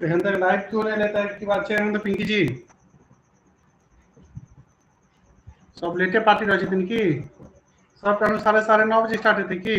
एखन तक लाइट क्यो नहि रहता है की बात छै अरविन्द पिंकी जी सब लेटे पार्टी रहै छथिन की सब टाइम साढ़े साढ़े नौ बजे स्टार्ट हेतै की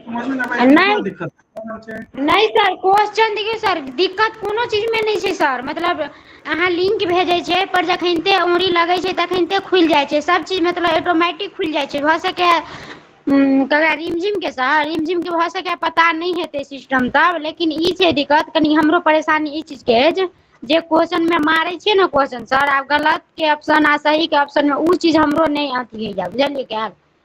समझमे नहिब छै तऽ कोन दिक्कत छै नय सर क्वेश्चन देखियौ सर दिक्कत कोनो चीजमे नय छै सर मतलब अहाँ लिंक भेजै छियै पर जखनिते ओंगरी लगै छै तखनिते खुलि जाइ छै सब चीज मतलब ऑटोमटिक खुलि जाइ छै भऽ सकैया हूं कहे रिमझिम के सर रिमझिम के भऽ सकैया पता नय हेत तै सिस्टम तब लेकिन ई छै दिक्कत कनि हमरो परेशानी ई चीजके अछि जे क्वेश्चन मे मारै छियै ने क्वेश्चन सर आ गलत के ऑप्शन आ सही के ऑप्शन मे उ चीज हमरो नय अथी होइया बुझलियै की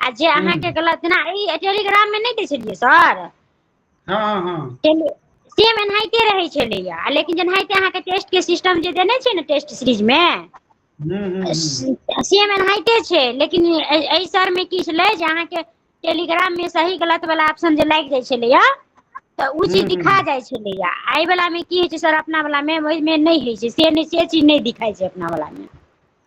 आ जे हूँ अहाँके गलत जेना ई टेलीग्राममे नहि दै छलियै सर हँ हँ हँ सेम एनाहिते रहै छलैया लेकिन जेनाहिते अहाँके टेस्ट के सिस्टम जे देने छै ने टेस्ट सीरीज मे हूँ हूँ हूँ सेम एनाहिते छै लेकिन एहि सर मे की छलै जे अहाँके टेलीग्राम मे सही गलत वला ऑप्शन जे लागि जाइ छलैया तऽ ओ हूँ चीज हूँ दिखा हूँ जाइ छै छलैया एहि वला मे की होइ छै सर अपना वला मे ओहिमे नहि होइ छै से नहि से चीज नहि दिखाई छै अपना वला मे